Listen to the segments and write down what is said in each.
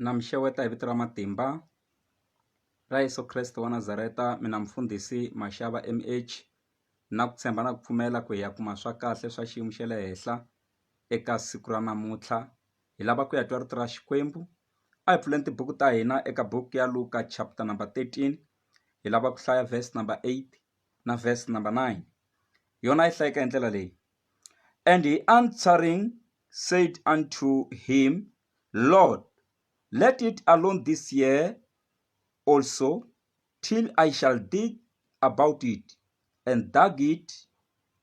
Na mi xeweta hi vito ra matimba ra Yeso Kreste wa Nazareta mina mufundhisi Mashava M_H na ku tshemba na ku pfumela ku hi ya kuma swa kahle swa xiyimo xa le henhla eka siku ra namuntlha hi lava ku ya twa rito ra Xikwembu a hi pfuleni tibuku ta hina eka book ya Luka chapter number thirteen hi lava ku hlaya verse number eight na verse number nine yona yi hlayeka hi ndlela leyi and he answering said unto him, Lord, let it alone this year also, till I shall dig about it, and dug it,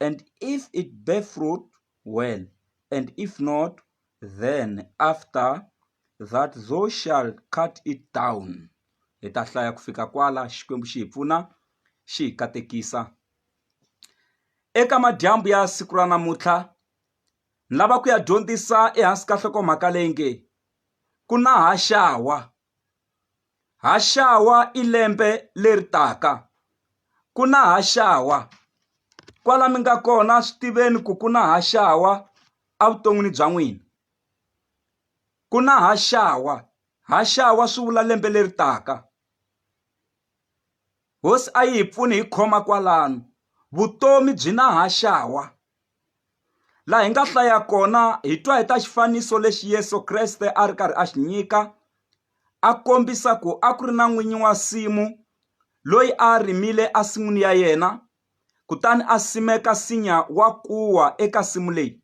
and if it bear fruit, well, and if not, then after that thou shall cut it down. Hi ta hlaya ku fika kwala Xikwembu xi hi pfuna xi hi katekisa. Eka madyambu ya siku ra namuntlha Ni lava ku ya dyondzisa ehansi ka nhlokomhaka leyi nge ku na haxawa haxawa i lembe leri taka ku na haxawa kwala mi nga kona swi tiveni ku ku na haxawa evuton'wini bya n'wina ku na haxawa haxawa swi vula lembe leri taka hosi a yi hi pfuni hi khoma kwalano vutomi byi na haxawa. laha hi nga hlaya kona hi twa hi ta xifaniso lexi Yesu Kreste a ri karhi a xi nyika a kombisa ku a ku ri na n'winyi wa simu loyi a rimile a sin'wini ya yena kutani a simeka sinya wa kuwa eka simu leyi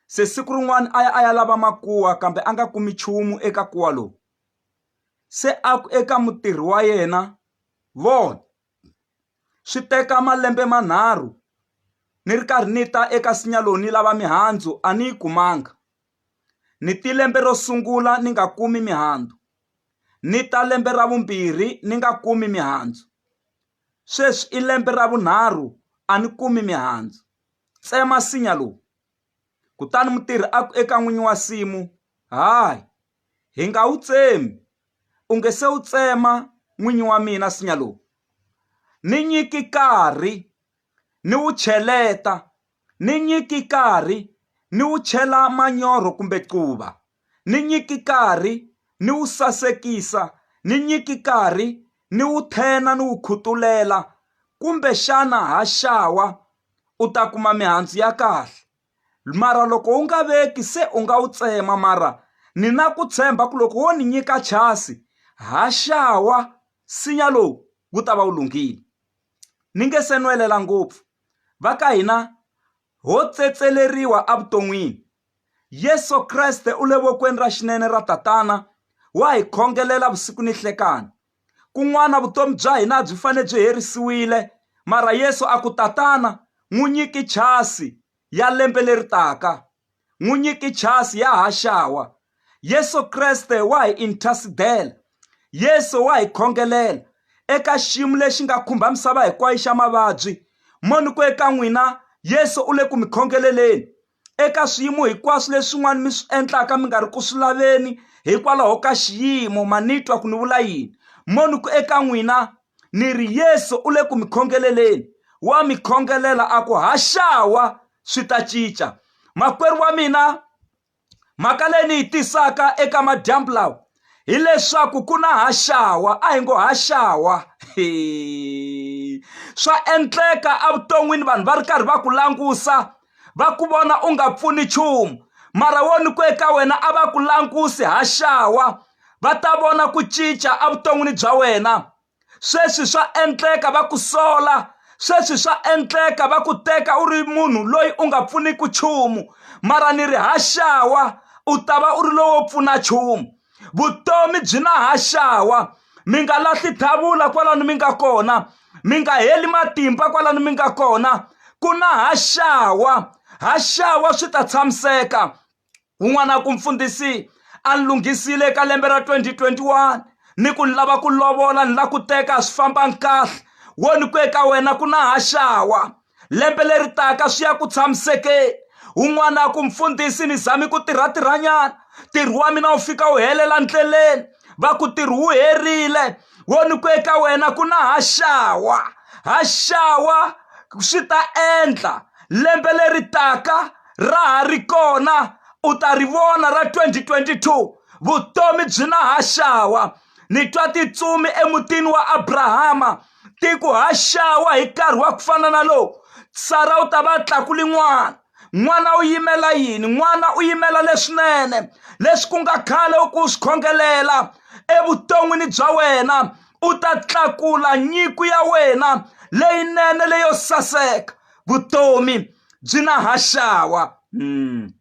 se siku rin'wana a ya a ya lava makuwa kambe a nga kumi nchumu eka kuwa lowu se a ku eka mutirhi wa yena vona Swi teka malembe manharhu ni ri karhi ni ta eka nsinya lowu ni lava mihandzu a ni yi kumanga ni te lembe ro sungula ni nga kumi mihandzu ni ta lembe ra vumbirhi ni nga kumi mihandzu sweswi i lembe ra vunharhu a ni kumi mihandzu tsema nsinya lowu kutani mutirhi a ku eka n'winyi wa nsimu hayi hi nga wu tsemi u nge se wu tsema n'winyi wa mina nsinya lowu ni nyiki nkarhi ni wu cheleta ni nyiki nkarhi ni wu chela manyoro kumbe quva ni nyiki nkarhi ni wu sasekisa ni nyiki nkarhi ni wu tshena ni wu khutulela kumbexana ha xawa u ta kuma mihandzu ya kahle. Mara loko u nga veki, se u nga wu tsema. Mara ni na ku tshemba ku loko wo ni nyika chasi, haxawa nsinya lowu wu ta va wu lunghile. Ni nge se nwelela ngopfu, va ka hina ho tsetseleriwa evuton'wini. Yesu Kreste u le vokweni ra xinene ra Tatana, wa hi khongelela vusiku ni nhlekani. Kun'wana vutomi bya hina a byi fanele byi herisiwile, mara Yesu a ku, Tatana, n'wi nyiki chasi ya lembe leri taka. N'wi nyiki chasi ya ha xawa. Yesu Kreste wa hi inthasidela. Yesu wa hi khongelela eka xiyimo lexi nga khumba misava hinkwayo xa mavabyi. Mo ni ku eka n'wina, Yesu u le ku mi khongeleleni. eka swiyimo hinkwaswo leswin'wana mi swi endlaka mi nga ri ku swi laveni hikwalaho ka xiyimo ma ni twa ku ni vula yini mo ni ku eka n'wina ni ri yesu u le ku mi khongeleleni wa mi khongelela a ku haxawa swi ta cinca makwerhu wa mina mhaka leyi ni yi tisaka eka madyambu lawa hileswaku ku na haxawa a hi ngo haxawa swa endleka evuton'wini vanhu va ri karhi va ku langusa va ku vona u nga pfuni nchumu mara wo ni ku eka wena a va ku langusi haxawa va ta vona ku cinca evuton'wini bya wena sweswi swa endleka va ku sola sweswi swa endleka va ku teka u ri munhu loyi u nga pfuniki nchumu mara ni ri haxawa u ta va u ri lowo pfuna nchumu vutomi byi na haxawa mi nga lahli thavula kwalano mi nga kona mi nga heli matimba kwalano mi nga kona ku na haxawa haxawa swi ta tshamiseka Un'wana ku, Mfundhisi, a ni lunghisile ka lembe ra 2021 ni ku ni lava ku lovola ni la ku teka swi famba nkahle wo ni ku eka wena ku na ha xawa lembe leri taka swi ya ku tshamisekeni un'wana ku mfundhisi ni zami ku tirha tirhanyana ntirho wa mina wu fika wu helela ndleleni va ku tirhi wu herile wo ni ku eka wena ku na ha xawa ha xawa swi ta endla lembe leri taka ra ha ri kona u ta ri vona ra 2022 vutomi byi na ha xawa ni twa titsumi emutini wa Abrahama ti ku ha xawa hi nkarhi wa ku fana na lowu Sara u ta va tlakuli n'wana n'wana u yimela yini n'wana u yimela leswinene leswi ku nga khale u ku swi khongelela evuton'wini bya wena u ta tlakula nyiko ya wena leyinene leyo saseka vutomi byi na haxawa hmm.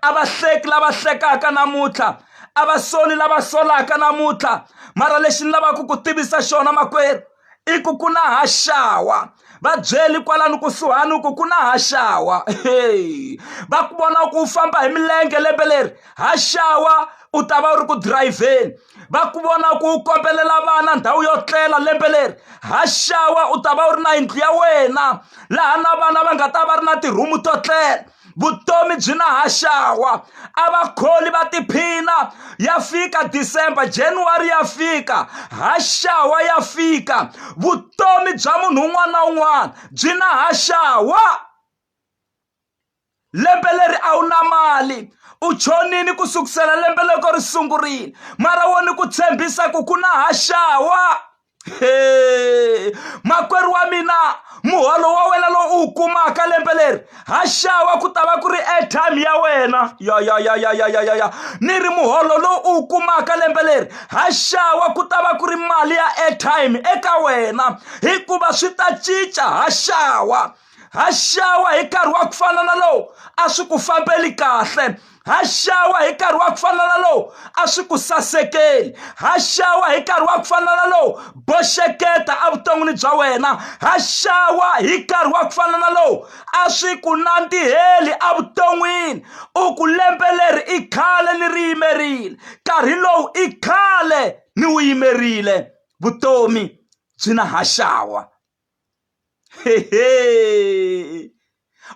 a va hleki lava hlekaka namuntlha a va soli lava solaka namuntlha mara lexi ni lavaka ku tivisa xona makwerhu i ku ku na haxawa va byeli kwalano kusuhani ku ku na haxawa va ku vona ku u famba hi milenge lembe leri haxawa u ta va u ri ku dirayivheni va ku vona ku u kombelela vana ndhawu yo tlela lembe leri ha xawa u ta va u ri na yindlu ya wena laha na vana va nga ta va ri na tirhumu to tlela vutomi byi na ha xawa a va kholi va tiphina ya fika december january ya fika ha xawa ya fika vutomi bya munhu un'wana na un'wana byi na ha xawa lembe leri a wu na mali u chonini ku sukusela lembe loko ri sungurile mara wo ni ku tshembisa ku ku na haxawa he makwerhu wa mina muholo wa wena lowu u wu kumaka lembe leri ha xava ku ta va ku ri airtime ya wena ya ya ya ya ya ya ya ya ni ri muholo lowu u wu kumaka lembe leri ha xava ku ta va ku ri mali ya airtime eka wena hikuva swi ta cinca ha xava ha xawa hi nkarhi wa ku fana na lowu a swi ku fambeli kahle ha xawa hi nkarhi wa ku fana na lowu a swi ku sasekeli ha xawa hi nkarhi wa ku fana na lowu boxeketa evuton'wini bya wena ha xawa hi nkarhi wa ku fana na lowu a swi ku nandziheli evuton'wini u ku lembe leri i khale ni ri yimerile nkarhi lowu i khale ni wu yimerile vutomi byi na ha xawa hehe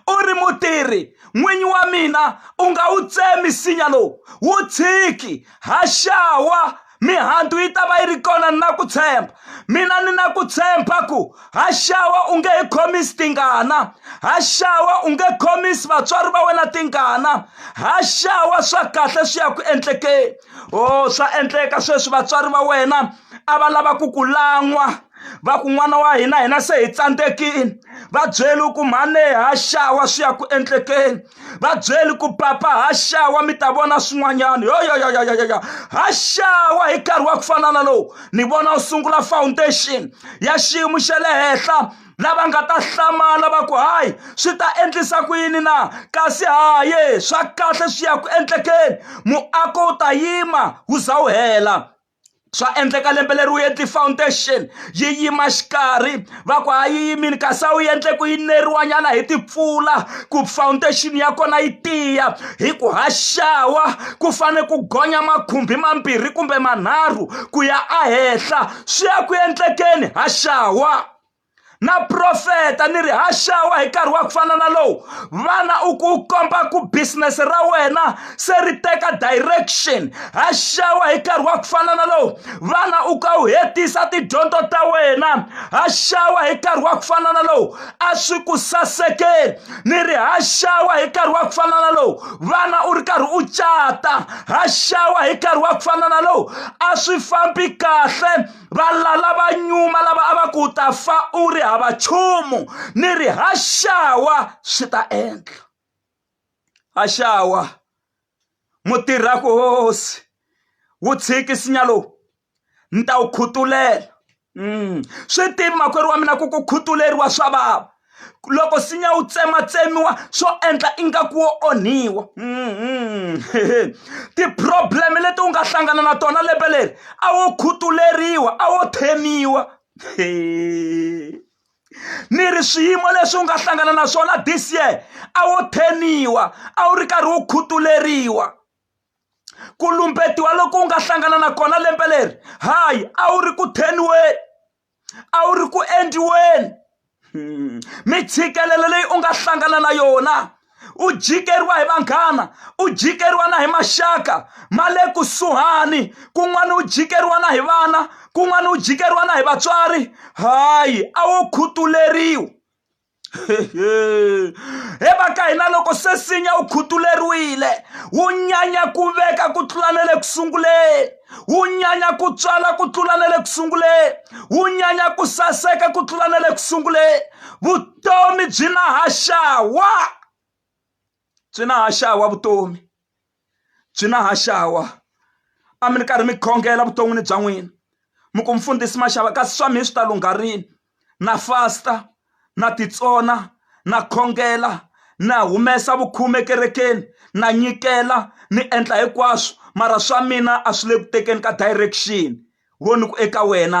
u ri mutirhi n'winyi wa mina u nga wu tsemi nsinya lowu wu tshiki ha xawa mihandzu yi ta va yi ri kona ni na ku tshemba mina ni na ku tshemba ku ha xawa u nge he khomisi tingana ha xawa u nge khomisi vatswari va wena tingana ha xawa swa kahle swi ya ku endlekeni o swa endleka sweswi vatswari va wena a va lava ku ku lan'wa va ku n'wana wa hina hina se hi tsandzekile va byeli ku mhane ha xawa swi ya ku endlekeni va byeli ku papa ha xawa mi ta vona swin'wanyana yoyoyoyoyoyo ha xawa hi nkarhi wa ku fana na lowu ni vona u sungula foundation ya xiyimo xa le henhla lava nga ta hlamala va ku hayi swi ta endlisa ku yini na kasi haye swa kahle swi ya ku endlekeni muako wu ta yima wu za wu hela swa endleka lembe leri wu endli foundation yi yima xikarhi va ku a yi yimile kasi a wu endle ku yineriwanyana hi timpfula ku foundation ya kona yi tiya hi ku haxawa ku fane ku gonya makhumbi mambirhi kumbe manharhu ku ya ehenhla swi ya ku endlekeni haxawa. na profeta ni ri haxawa hi nkarhi wa ku fana na lowu vana u ku u komba ku business ra wena se ri teka direction haxawa hi nkarhi wa ku fana na lowu vana u ka u hetisa tidyondzo ta wena haxawa hi nkarhi wa ku fana na lowu a swi ku sasekeli ni ri haxawa hi nkarhi wa ku fana na lowu vana u ri karhi u cata haxawa hi nkarhi wa ku fana na lowu a swi fambi kahle valala va nyuma lava a va ku ta fa u ri hava nchumu ni ri haxawa swi ta endla haxawa mutirhaku hosi wu tshiki sinya lowu ni ta wu khutulela mm. swi tivi makwerhu wa mina ku ku khutuleriwa swa vava loko nsinya wu tsematsemiwa swo endla ingaku wo onhiwa mm-hmm. ti-problem leti u nga hlangana na tona lembe leri a wo khutuleriwa a wo themiwa ni ri swiyimo leswi u nga hlangana na swona this year a wo theniwa a wu ri karhi wu khutuleriwa ku lumbetiwa loko u nga hlangana na kona lembe leri hayi a wu ri ku theniweni a wu ri ku endliweni mitshikelelo leyi u nga hlangana na yona u jikeriwa hi vanghana u jikeriwa na hi maxaka ma le kusuhani kun'wana u jikeriwa na hi vana kun'wana u jikeriwa na hi vatswari hayi a wo khutuleriwa he va ka hina loko se sinya wu khutuleriwile wu nyanya ku veka ku tlula na le ku sunguleni wu nyanya ku tswala ku tlula na le ku sunguleni wu nyanya ku saseka ku tlula na le ku sunguleni vutomi byi na haxawa byi na ha xawa vutomi byi na ha xawa a mi ri karhi mi khongela vuton'wini bya n'wina mi ku mfundhisi maxava kasi swa mina swi ta lungha rini na fasta na titsona na khongela na humesa vukhume ekerekeni na nyikela ni endla hinkwaswo mara swa mina a swi le ku tekeni ka direction vo ni ku eka wena .